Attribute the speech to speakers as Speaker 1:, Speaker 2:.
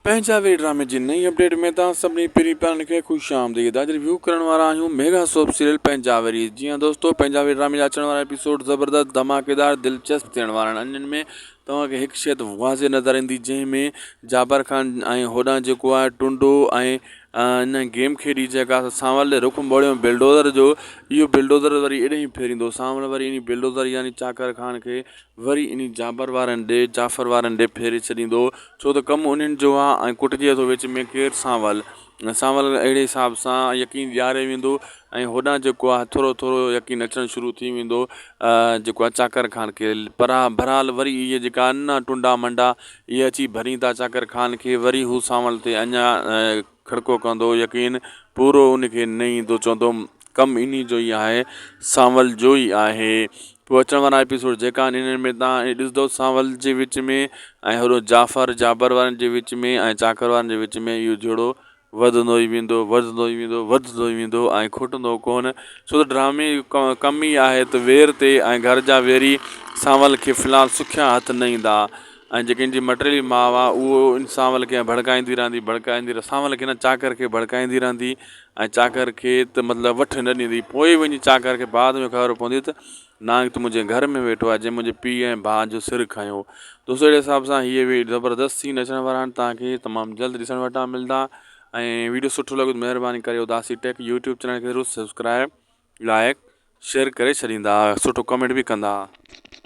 Speaker 1: پنهنجا وي ڊرامي جي نئين اپڊيٽ ۾ توهان سڀني پرين پيارن کي خوش آمديد اڄ ريويو ڪرڻ وارا آهيون ميگا سوپ سيريل پنهنجاوري جي ها دوستو پنهنجاوري ڊرامي جا اچڻ وارا ايپيسوڊ زبردست ڌماڪيدار دلچسپ ٿيڻ وارا آهن انهن ۾ توهان کي هڪ شيت واضح نظر ايندي جنهن ۾ جابر خان ۽ هوڏانهن جيڪو آهي ٽنڊو ۽ ان گيم کيڏي جيڪا سانول ڏي رخ موڙيو بلڊوزر جو اهو بلڊوزر وري اڏهين ڦيريندو سانول وري انهي بلڊوزر يعني چاڪر خان کي وري انهي جابر وارن ڏي، جعفر وارن ڏي ڦيري ڇڏيندو، ڇو ته ڪم انهن جو آ ۽ ڪٽجي ٿو وچ ۾ ڪير سانول، سانول اهڙي حساب سان يقين ڏياري ويندو ۽ هوڏانهن جيڪو آ ٿورو ٿورو يقين اچڻ شروع ٿي ويندو جيڪو آ چاڪر خان کي پرا بھرحال وري اهي جيڪا آھن ٽنڊا منڊا اهي اچي ڀرين ٿا چاڪر خان کي وري هو سانول تي اڃا کڙڪو ڪندو يقين پورو ان کي نه ايندو چوندو ڪم انهي جو ئي آهي سانول جو ئي آهي پوء اچڻ وارا ايپيسوڊ جيڪا آهن انهن ۾ توهان ڏسندو سانول جي وچ ۾ ۽ هوڏو جعفر جابر وارن جي وچ ۾ ۽ چاڪر وارن جي وچ ۾ اهو جهيڙو وڌندو ئي ويندو وڌندو ئي ويندو وڌندو ئي ويندو ۽ کٽندو ڪونه ڇو ته ڊرامي جو ڪم ئي آهي ته وير تي ۽ گهر جا ويري سانول کي في الحال سکيا هٿ نه ايندا. ۽ جيڪي ان جي مٽيلي ماء آ، اهو ان سانول کي ڀڙڪائيندي رهندي، ڀڙڪائيندي رهندي، سانول کي نه، چاڪر کي ڀڙڪائيندي رهندي ۽ چاڪر کي ته مطلب وٺ نه ڏيندي. پوء وڃي چاڪر کي بعد ۾ خبر پوندي ته نانگ ته منهنجي گهر ۾ ويٺو آهي، جنهن منهنجي پيء ۽ ڀاء جو سر کنيو هو. دوستو اهڙي حساب سان هي اهي زبردست سين اچڻ وارا آهن، توهان کي تمام جلد ڏسڻ وٽان ملدا ۽ وڊيو سٺو لڳو ته مهرباني ڪري اداسي ٽيڪ يوٽيوب چينل کي ضرور سبسڪرائب، لائڪ، شيئر ڪري ڇڏيندا، سٺو ڪمينٽ به ڪندا.